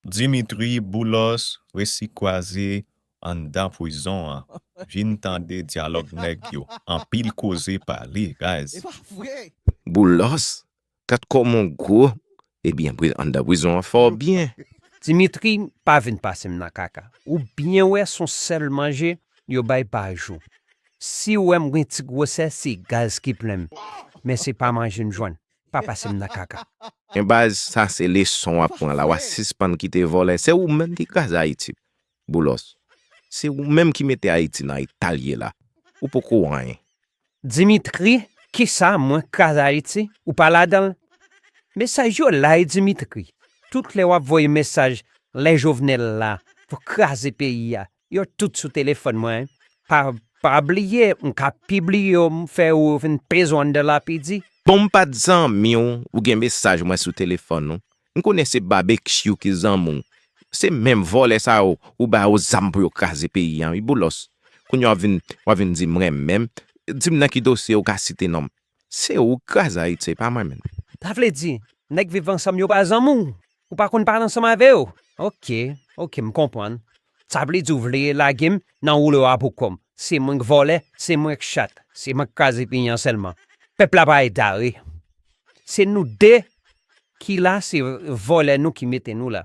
Dimitri boulos resi kwaze anndan pwizon an vin tande dyalòg nèg yo anpil koze pale guys. Boulos kat kòm on gwo ebyen anndan prizon an fè w byen. Dimitri pa vin pasem nan kaka ou byen wè son sèl manje yo bay pa jou siw wèm gen ti gwosè se gaz ki plenm men se pa manje m jwenn pa pase m nan kaka. Men baz sa se leson wap pran la wa sispann kite vòlè se ou menm ki kraze ayiti boulos se ou menm ki mete ayiti nan etal ye la ou poko anyen. Dimitri kisa mwen kraze ayiti ou pa ladanl mesaj yo la wi dimitri tout lè wap voye mesaj lè jovenel la pou kraze peyi a Yo tout sou telefòn mwen pa pa bliye m ka pibliye yo m fè ou vin bezwen de lapidi. Bon m pa t zanmi w ou gen mesaj mwen sou telefòn ou m konnen se babekyou ki zanmi w se menm vòlè sa yo ou ba yo zam pou yo kraze peyi an wi boulos kounye w ap vin w ap vin di m renmen m di m nan ki dosye ou ka site non m Se ou k kraze Ayiti se pa mwen menm. Sa vle di nèg viv ansanm yo pa zanmi w? Ou pa konn pale ansanm avè yo? Ok, ok m konprann. Sa vle di ou vle lage m nan woulo a pou kò m. Se mwen k vòlè, se mwen k chat, se mwen k kraze peyi an sèlman. Pèp la pa egare. Se nou de ki la se vòlè nou ki mete nou la.